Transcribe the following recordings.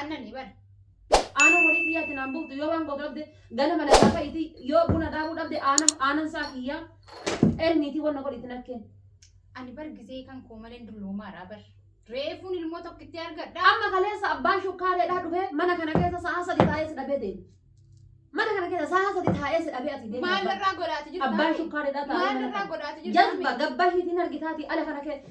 Annani bar. Aanan horii kiyyaatti naan buuftu yoo waan gootu dhabde ganama na gaafa iti yoo buna daakuu dhabde aanan aanan saa kiyyaa elmiitii wanna godhi itti nakkeen. Ani bar gisee kan koo maleen dulloomaadha bar. Reefuun ilmoo tokkitti argadha. Amma kaleessa abbaan shukkaareedhaa dhufee mana kana keessa sa'a sadi taa'ee si dhabee deema. Mana kana keessa sa'a sadi taa'ee si dhabee ati deema. Maal irraa godhaati jirta? Abbaan shukkaareedhaa taa'ee Maal mana irraa kana. godhaati jirta? Jalba gabba hiitiin argitaatii ala kana keessa.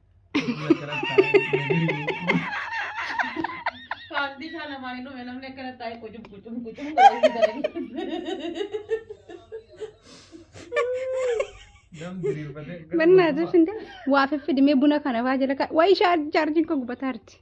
Paartii isaa lamaan hin dhume namni akkana taa'ee qucum qucum qucum Bannaatii findee waa fiffidimee buna kana faa jala kaa. Waa ishaa jaarjiin koo gubataa jirti.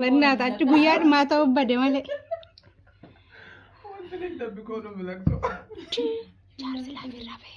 Bannaa achi guyyaa dhumaa ta'uu bade malee. Wanti inni dabbi kooduu milaqsu. Jaarsi laafee laafee.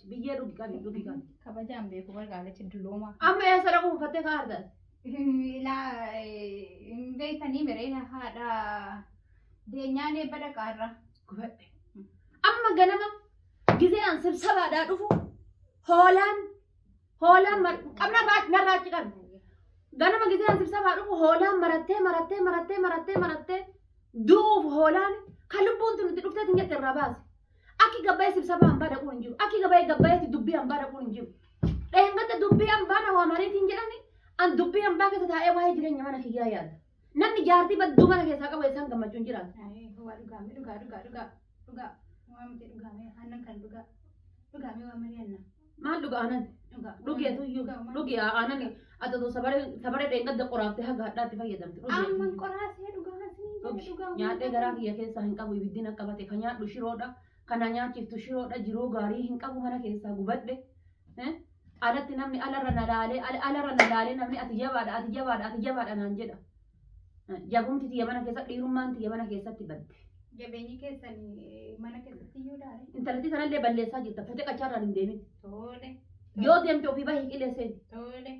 Biyyee dhugi qabi dhugi qabi. Kabajaan beeku bar gaalachi duloomaa. Amma yaa sara kuufattee kaa argaas. Ilaa hin beektanii miree haadha deenyaan eebba dhaqaarra. Gubadhe. Amma ganama gizee an sibsabaadhaa dhufu hoolaan hoolaan mar- qabna baa- narraa achi qabi. Ganama gizee an sibsabaa dhufu hoolaan marattee marattee marattee marattee marattee du'uuf hoolaan kan lubbuun tun itti dhufteetiin jette irraa baase. Akki gabbaa'ee sibsabaa hambaa dhaquun hin jiru. Akki gabbaa'ee gabbaa'eetti dubbii hambaa dhaquun hin jiru. Dheengadda dubbii hambaa na waamaniitiin jedhani an dubbii hambaa keessa taa'ee waa'ee jireenya mana kiyyaa yaada. Namni jaartii badduu mana keessaa qabu eessaan gammachuun jiraata. Ayi, waa dhugaame dhugaa dhugaa dhugaa dhugaa waa miti dhugaame aannan kan dhugaa dhugaame waa mari'anna. Maal dhuga aanan? Dhugi atu iyyuu. Dhugi aanan ati otoo sabaree sabaree dheengadda qoraafte haga hadhaatti fayyadamte. Dhugi ati Amman iyyuu. qoraasee dhugaa siniin jedhe Dhugi dhugaa nyaadhee garaa kiyya keessaa hin qabu ibiddin akka bate ka nyaadhu shiroodha kana nyaachiftu shiroodha jiruu gaarii hin qabu mana keessaa gubadhe Eh? anatti namni alarra na laalee al- alarra na laalee namni ati jabaadha ati jabaadha ati jabaadha naan jedha Jabumti tiyya mana keessatti dhiirummaan tiyya mana keessatti badde. Jabeenyi keessan eh, mana keessatti iyyuu daare. Intalattii sanallee balleessaa jirta. Fuutee qachaarraan hin deemin. Tole. Yoo deemte ofii bahee qilee seeni. Tole.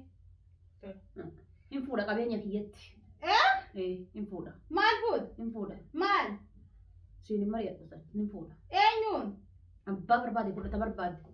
Hin fuudha qabeenya kiyyatti. Eh? Eh, Hin fuudha. Maal fuut? Hin fuudha. Maal? Siin hin mari'adhu san. Hin fuudha. Eenyuun? Abbaa barbaade fudhata barbaade.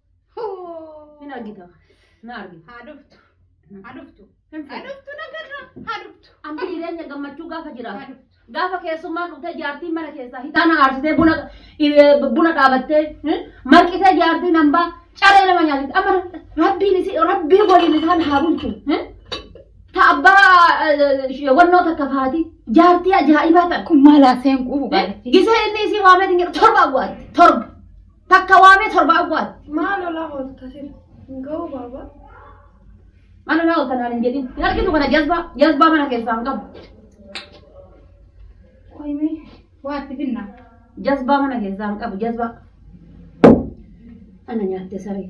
Hin argita. Na argita. Haa dhuftu. Haa dhuftu. Hin Haa fedhu. dhuftu nagarra. Haa dhuftu. Amma jireenya gammachuu gaafa Haa jiraatu. dhuftu. Gaafa keessummaan dhuftee jaartiin mana keessaa hixaana aarsitee buna eh, buna dhaabattee eh, marqitee jaartiin hambaa caree nama nyaatatti amma rabbiin isi rabbii waliin isaan haa bulchu. eh. Ta abbaa eh, wannoo takka faati jaartii ajaa'ibaa takka. Kun maal haaseen quufu Eh, Gisee inni isii waamee hin jedhu torba awwaatti torba. Takka waamee torba awwaala. Maal olaa oolta sila? Ngoo baaba. Maal olaa oolta naan hin jedhin. Hin argitu kana jazbaa jazbaa mana keessaa hin qabu. Qoyimee waa itti finna. Jazbaa mana keessaa hin qabu jazbaa. Ana nyaatte saree.